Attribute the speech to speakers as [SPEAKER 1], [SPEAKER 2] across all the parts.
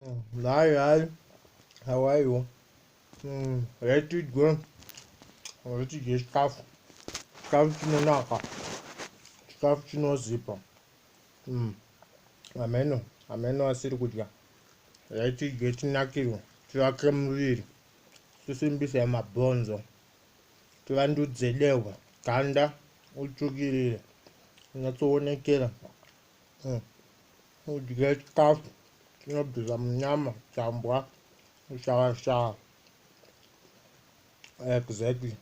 [SPEAKER 1] Hi, hi. How are you? Mm, let it go. Let it get tough. Tough chinonaka. Tough chinozipa. Mm. Ameno, ameno asiri kudya. Let it get nakiro. Tivake muviri. Tisimbise mabhonzo. Tivandudze dehwa. Ganda utsvukirire. Unatsoonekera. hmm. udye chikafu chinobvisa munyama chambwa shawashawa exactly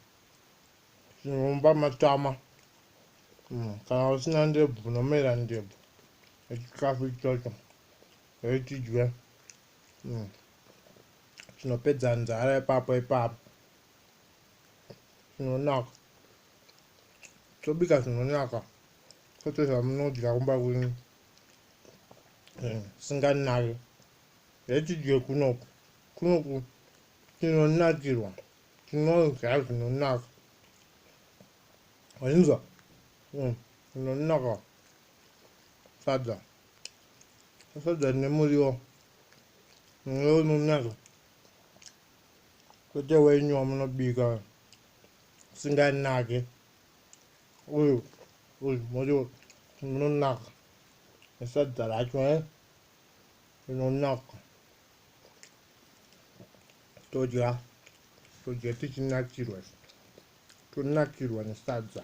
[SPEAKER 1] zvinomba matama mm, kana usina ndebvu unomera ndebvu echikafu ichocho echidye mm. chinopedza nzara ipapo ipapo chinonaka tobika zvinonaka kwete zvamunodya kumba kwenyu eh, singanake hetidye kunoku kunoku tinonakirwa tinodya zvinonaka ainzwa hmm, zvinonaka sadza sadza nemuriwo muriwo unonaka kwete wenyu wamunobika singanake uyu uyu moyo unonaka nesadza racho e rinonaka todya todya tichinakirwa tonakirwa nesadza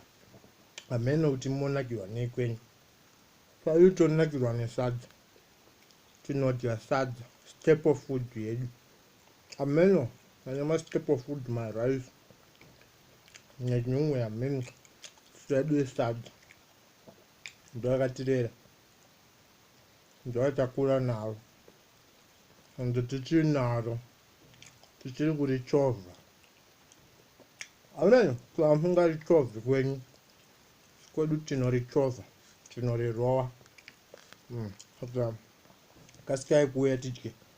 [SPEAKER 1] hameno kuti monakirwa nei kwenyu paiu tonakirwa nesadza tinodya sadza staple food yedu Ameno ane ma step of food ma rice nenyungwe ameno swedu esadza ndoakatirera ndoatakura naro and tichiri naro tichiri kurichovha ameno kuamungarichovi kwenyu kwedu tinorichova tinorirova mm. kasikai kuuya tidye